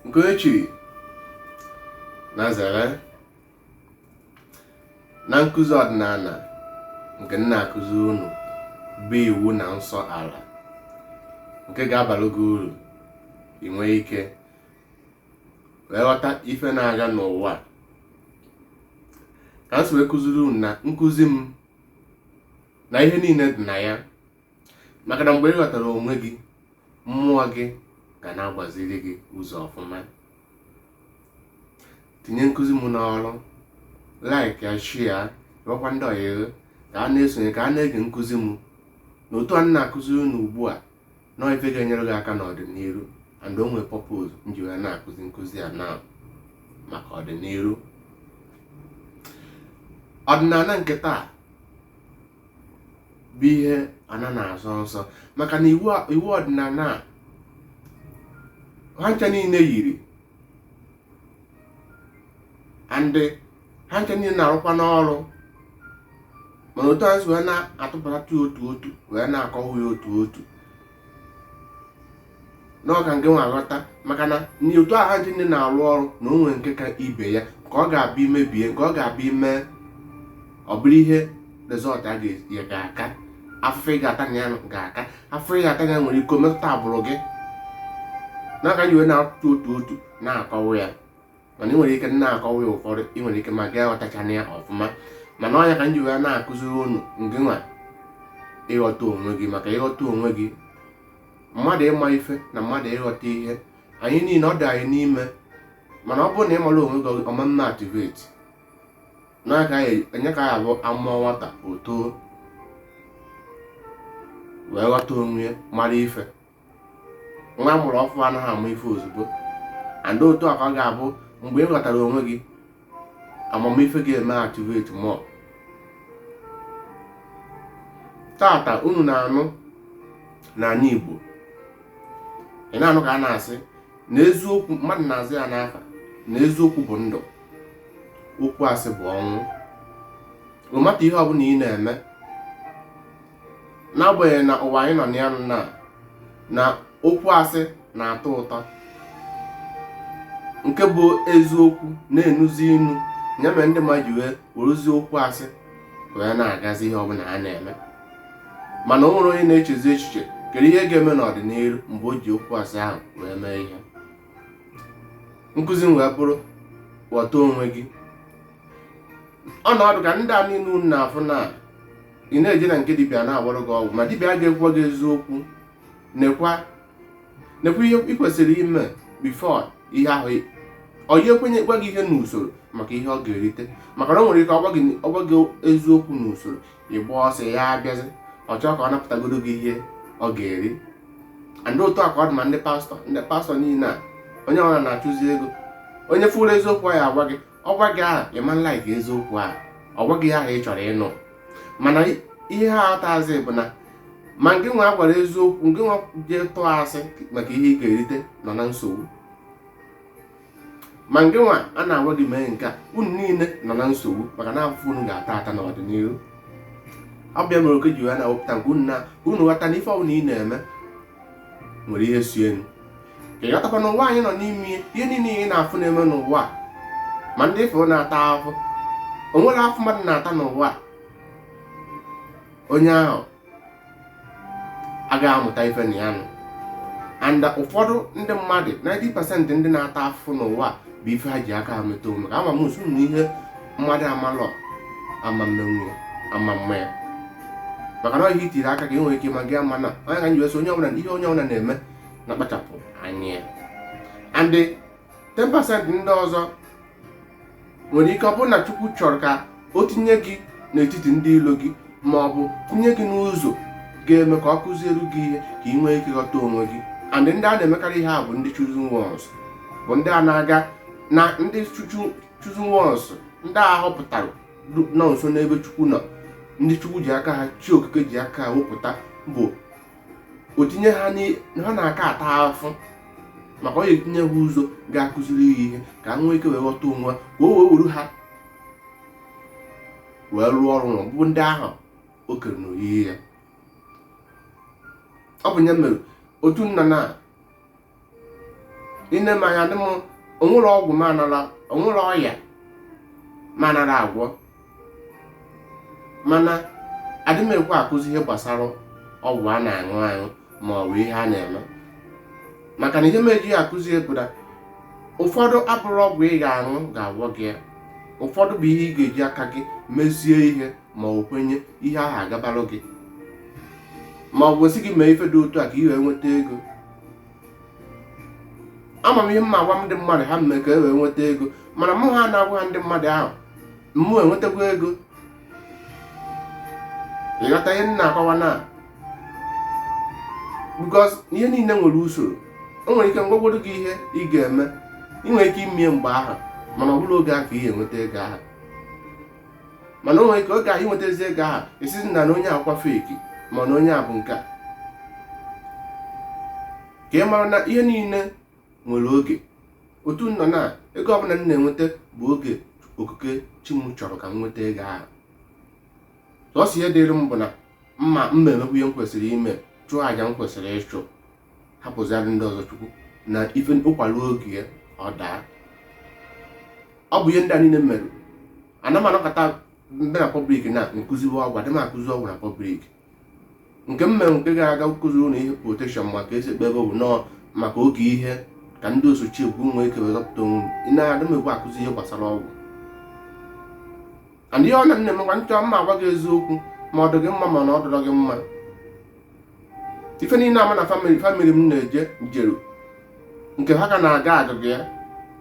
nke o chiri na zere na nkụzi ọdịnala nke m na-akụziri unu bụ iwu na nsọ ala nke ga-abalụ gị uru inwe ike wee ghọta ife na-aga n'ụwa ka m si wee kụziri unu na nkụzi m na ihe niile dị na ya maka na mgbe ị ghọtara onwe gị mmụọ gị ga na-agbaziri gị ụzọ ọfụma tinye nkụzi m n'ọrụ like ya share rụọkwa ndị ọyị gị ka ha na-esonye ka ha na-ege nkụzi m na otu a m na-akụziri unu ugbu a na ọ ife ga-enyere gị aka n'ọdịnihu and o nwere purpose m ji wee na-akụzi nkụzi a na maka ọdịnihu ọdịnala nke taa bụ ihe ana na-asọ nsọ maka na iwu ọdịnala a ha ncha niile yiri and ha ncha niile na-arụkwa n'ọrụ mana otu anyị si wee na-atụpụta otu otu wee na-akọwa ya otu otu na ọ ka nke nwa aghọta maka na otu a ha ncha niile na-arụ ọrụ na o nwere nke ka ibe ya nke ọ ga-abụ i mebie nke ọ ga-abụ i mee ọ bụrụ ihe result ya ga-aka afụfụ ị ga-ata na ya ga-aka afụfụ ị ga-ata ya nwere ike metụta agbụrụ gị nya ka m ji wee na-atụ otu otu na-akọwa ya mana ị nwere ike na-akọwa ya ụfọdụ ị nwere ike ma gị aghọtachana ya ọfụma mana ọ nya ka m ji wee na-akụziri unu nke nwa ịghọta onwe gị maka ịghọta onwe gị mmadụ ịma ife na mmadụ ịghọta ihe anyị niile ọ dị anyị n'ime mana ọ bụrụ na ị mara onwe gị ọ mee activate na ọ nya ka ọ ya-abụ a mụọ nwata o too wee ghọta onwe ya mara ife nwa a mụrụ ọfụụ anaghị ama ife ozugbo and otu a ka ọ ga-abụ mgbe ị ghọtara onwe gị amamife ga-eme activate more tata unu na-anụ n'ala Igbo ị na-anụ ka a na-asị na eziokwu mmadụ na-aza ya n'afa na eziokwu bụ ndụ okwu asị bụ ọnwụ no matter ihe ọbụla ị na-eme n'agbanyeghị na ụwa anyị nọ na ya na na okwu asị na-atọ ụtọ nke bụ eziokwu na-enuzi inu ya mere ndị mmadụ ji wee werezie okwu asị wee na-agazi ihe ọbụla ha na-eme mana o nwere onye na-echezi echiche kedu ihe ga-eme n'ọdịnihu mgbe o ji okwu asị ahụ wee mee ihe nkụzi m wee bụrụ ghọta onwe gị ọnọdụ ka ndị a niile unu na-afụ na ị na-eje na nke dibịa na-agwọrọ gị ọgwụ ma dibịa a ga-agwa gị eziokwu nekwa nekwa ihe ị kwesịrị ime before ihe ahụ onye ekwenye gwa gị ihe n'usoro maka ihe ọ ga-erite maka na o nwere ike ọ gwa gị ọ gwa gị eziokwu n'usoro ị gbaa ọsọ ya abịazi ọ chọọ ka ọ napụtagodo gị ihe ọ ga-eri and otu a ka ọ dị ma ndị pastor ndị pastor niile a onye ọbụla na-achụzi ego onye fụrụ eziokwu ya agwa gị ọ gwa gị ahụ ị ma like eziokwu ahụ ọ gwa gị ahụ ị chọrọ ịnụ mana ihe a atazi bụ na ma ngị nwa gwara eziokwu ngị nwa jee tụọ asị maka ihe ị ga-erite nọ na nsogbu ma ngị nwa a na-agwa gị mee nke a unu niile nọ na nsogbu maka na afụfụ unu ga-ata ata n'ọdịnihu ọ bụ ya mere oke ji wee na-ewepụta nke unu na unu ghọta na ife ọbụla ị na-eme nwere ihe si enu ka ị ghọtakwa n'ụwa anyị nọ n'ime ihe niile ị na-afụ na-eme n'ụwa ma ndị ị fụ na-ata ahụ o nwere afụ mmadụ na-ata n'ụwa onye ahụ agaghị amụta ife na ya nụ and ụfọdụ ndị mmadụ 90% ndị na-ata afụ n'ụwa bụ ife ha ji aka ha meta onwe ka ama m nsu na ihe mmadụ amalọ ama mmenwu ya ama mma ya maka na ọ ihe i tiri aka ka ị nwere ike ma gị ama na ọ ya ka m ji wee sị onye ọbụla ihe onye ọbụla na-eme ya kpachapụ anya ya and 10% ndị ọzọ nwere ike ọ bụrụ na chukwu chọrọ ka o tinye gị n'etiti ndị ilo gị ma ọ bụ tinye gị n'ụzọ ga-eme ka ọ kụziere gị ihe ka ị nwee ike ghọta onwe gị and ndị a na-emekarị ihe a bụ ndị chosen ones bụ ndị a na-aga na ndị chuchu- chosen ones ndị a họpụtara du- nọ nso n'ebe chukwu nọ ndị chukwu ji aka ha chi okike ji aka ha wepụta bụ o tinye ha ha na-aka ata afụ maka ọ ya etinye ha ụzọ ga-akụziri ya ihe ka ha nwee ike wee ghọta onwe ka o wee were ha wee rụọ ọrụ na ọbụbụ ndị ahụ o kere n'oyiyi ya ọ bụ ya mere otu nna na ine m anya dị m o nwerọ ọgwụ m anara o nwerọ ọya m anara agwọ mana adị m ekwe akụzi ihe gbasara ọgwụ a na-aṅụ aṅụ ma ọ bụ ihe a na-eme maka na ihe m ejighị akụzi bụ na ụfọdụ abụrọ ọgwụ ị ga-aṅụ ga-agwọ gị ya ụfọdụ bụ ihe ị ga-eji aka gị mezie ihe ma ọ kwenye ihe ahụ agabalụ gị ma ọ bụ sị gị mee ife dị otu a ka ị wee nweta ego ama m ihe m na-agwa ndị mmadụ ha mee ka e wee nweta ego mana mụwa na-agwa ha ndị mmadụ ahụ mụ enwetakwa ego ị ghọta ihe m na-akọwa na because ihe niile nwere usoro o nwere ike m gwagodu gị ihe ị ga-eme ị nwere ike ime ya mgbe ahụ mana ọ bụrọ oge a ka ị ga-enweta ego ahụ mana o nwere ike oge ahụ i nwetazi ego ahụ a sịzi na na onye a bụkwa feki ma na onye a bụ nke a ka ị mara na ihe niile nwere oge otu nọ na ego ọbụla m na-enweta bụ oge okike chi m chọrọ ka m nweta ego ahụ sọsọ ihe dịrị m bụ na m ma m ma-emekwu ihe m kwesịrị ime chụọ àjà m kwesịrị ịchụ hapụzịara ndị ọzọ chukwu na ife ụkwa ruo oge ya ọ daa ọ bụ ihe ndị a niile mere na m anọkata ndị na pọblik na nkụziwe ọgwụ adị m akụzi ọgwụ na pọblik nke m mere nke gara aga nkụzi ụlọ ihe protekshọn maka esi ekpe ebe bụ nọọ maka oge ihe ka ndị osochi egwu nwee ike wee zọpụta onwe m ị na-adị m egwu akụzi ihe gbasara ọgwụ and ihe ọ na na-emekwa m chọ m ma-agwa gị eziokwu ma ọ dị gị mma ma na ọ dịrọ gị mma ife niile ama na famili famili m na-eje jeru nke ha ka na-aga agụgụ ya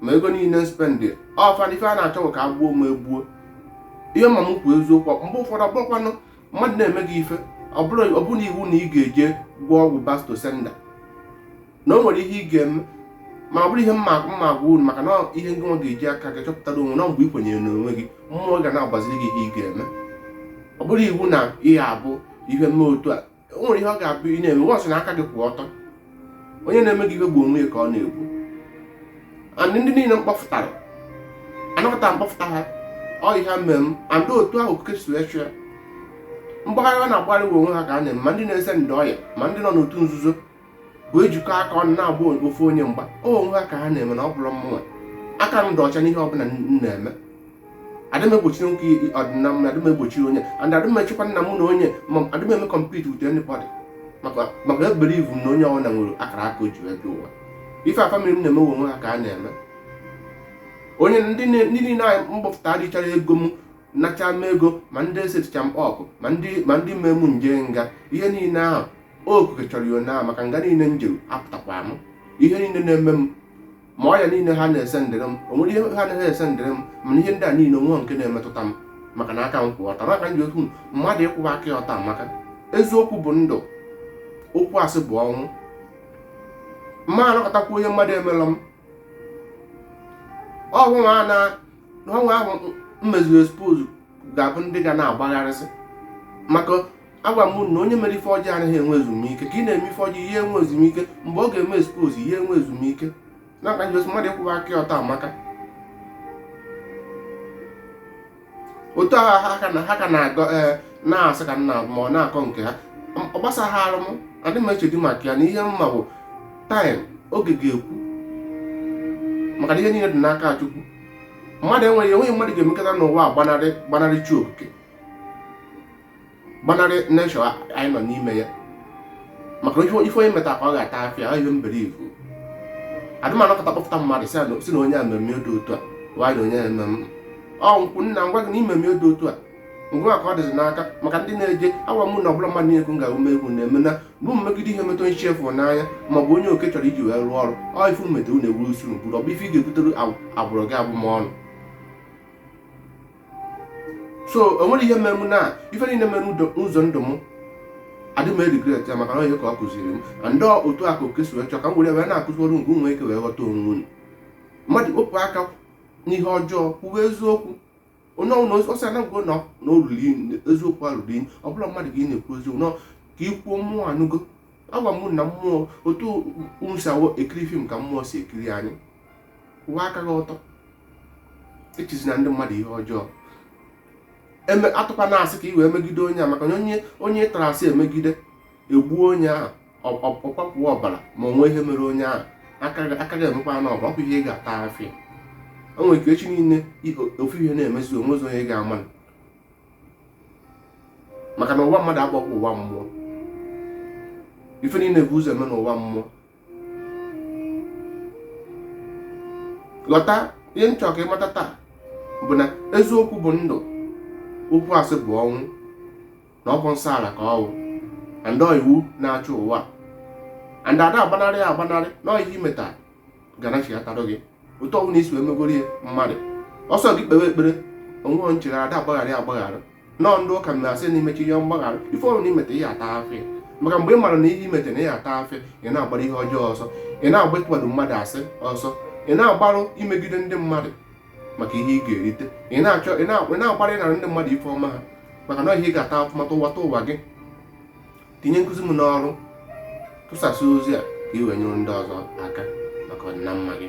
ma ego niile spendị ọfa na ife a na-achọ bụ ka ha gbuo m egbuo ihe ma m kwuo eziokwu mgbe ụfọdụ ọ bụrụkwanụ mmadụ na-eme gị ife ọ bụrọ ọ bụrọ na iwu na ị ga-eje gwọọ ọgwụ back to sender na o nwere ihe ị ga-eme ma ọ bụrọ ihe m ma m ma-agwa unu maka na ihe ndị nwa ga-eji aka gị chọpụtara onwe na mgbe ị kwenyere n'onwe gị mmụọ ga na-agbaziri gị ihe ị ga-eme ọ bụrọ iwu na ihe a bụ ihe m mee otu a o nwere ihe ọ ga-abụ ị na-eme once na aka gị kwụ ọtọ onye na-eme gị ihe bụ onwe ya ka ọ na-egbu and ndị niile m kpọfụtara anọkata m kpọfụta ha ọ ihe mere m and otu ahụ okike si wee chọọ mgbagharị ọ na-agbagharị onwe ha ka ha na-eme ma ndị na-esendị ọya ma ndị nọ n'otu nzuzo bụ ejikọ aka ọnụ na-agba ofu onye mgba o onwe ha ka ha na-eme na ọ bụrọ mụnwa aka m dị ọcha n'ihe ọbụla m na-eme adịm egbochiri nwoke ọdịmma na adịm egbochiri onye and adịm echekwa na m na onye ma adịm eme compete with anybody maka maka ebelieve m na onye ọbụla nwere akara aka o ji wee bịa ụwa ife a famili m na-eme onwe ha ka ha na-eme onye ndị niile anyị mgbapụta adịchara ego m nacha m ego ma ndị eseticha m up ma ndị ma ndị mee m jee nga ihe niile ahụ okike chọrọ ya otu ahụ maka nga niile m jere apụtakwa m ihe niile na-eme m ma ọya niile ha na-esendịrị m o nwere ihe ha na-ese esendịrị m mana ihe ndị a niile o nwee nke na-emetụta m maka na aka m kwụ ọtọ maka nji okwu mmadụ ịkwụwa aka ya ọtọ maka eziokwu bụ ndụ okwu asị bụ ọnwụ m ma anọkatakwa ihe mmadụ emelọ m ọnwụ ahụ m meziri expose ga-abụ ndị ga na-agbagharịsị maka agwa m na onye mere ife ọjọọ anaghị enwe ezumike ka ị na-eme ife ọjọọ ị ya enwe ezumike mgbe ọ ga-eme expose ị ya enwe ezumike n'aka njọs mmadụ ịkwụwa aka ya ọtọ amaka otu ahụ ha ka na ha ka na-agọ ee na-asị ka nna ma ọ na-akọ nke ha M- ọ gbasaharụ m adị m echedi maka ya na ihe m ma bụ time oge ga-ekwu maka na ihe niile dị n'aka Chukwu mmadụ enweghị enweghị mmadụ ga-emekata n'ụwa a gbanarị gbanarị chi okike gbanarị nature anyị nọ n'ime ya maka ife onye meta ka ọ ga-ata afịa ihe m believe adị m anọkata kpọpụta mmadụ sị na onye a me m ihe dị otu a wayọ onye me m ihe ọ nkwụ nna m gwa gị na i me m ihe dị otu a ngwa ka ọ dịzi n'aka maka ndị na-eje awa mụ na ọbụla mmadụ na-ekwu nga ume egwu na-eme na bụ mmegide ị metụ onye chi fụ n'anya ma ọ bụ onye oke chọrọ iji wee rụọ ọrụ ọ ifu mmetụ na-ewuru usoro bụrụ ọ bụ ife ị ga-ebutere agbụrụ gị abụmọnụ so o nwere ihe mere m na ife niile mere n'ụzọ ndụ m adị m regret ya maka na ihe ka ọ kụziri m and otu a ka oke si wee chọọ ka m were wee na-akụziri unu ka unu nwee ike wee ghọta onwe unu mmadụ wepụ aka n'ihe ọjọọ kwuwe eziokwu onye ọ bụla ọ sị anagụgo na olulu eziokwu alụrụ iyi ọ bụla mmadụ ka ị na-ekwu eziokwu nọ ka ị kwuo mmụọ anụgo agwa m na mmụọ otu unu si ekiri film ka mmụọ si ekiri anyị kwụwa aka gị ọtọ echizina ndị mmadụ ihe ọjọọ atụkwana asị ka i wee megide onye a maka na onye onye tara asị e megide e gbuo onye ahụ ọ kwafuo ọbara ma o nwe ihe mere onye ahụ aka gị emekwa n'ọbara ọ kwa ihe ị ga-ata afịa o nwere ike echi niile ofu ihe na-emezi o nwezi onye ga-ama maka na ụwa mmadụ agbaghị ụwa mmụọ ife niile bu ụzọ eme n'ụwa mmụọ ghọta ihe m chọrọ ka ị mata taa bụ na eziokwu bụ ndụ okwu asị bụ ọnwụ na ọ bụ nsọ ala ka ọ bụ and iwu na-achị ụwa and ada agbanarị ya agbanarị na ihe i meta ga-anachiatara gị otu ọbụla i si wee megoro ya mmadụ ọ sọ gị kpewe ekpere nwee nchegharị ada agbaghara agbaghara no ndị ụka na-asị na i mechaa ihe mgbaghara ife ọ bụ na i meta ị ya-ata afịa maka mgbe ị mara na ihe i meta na ị ya-ata afịa ị na-agbara ihe ọjọọ ọsọ ị na-agba ịkpado mmadụ asị ọsọ ị na-agbarụ imegide ndị mmadụ maka ihe ị ga-erite ị na-achọ ị na-agbara ịnara ndị mmadụ ife ọma ha maka na ihe ị ga-ata afụfụ ụwata ụwa gị tinye nkụzi m n'ọrụ tụsasịa ozi a ka i wee nyere ndị ọzọ aka maka ọdịna mma gị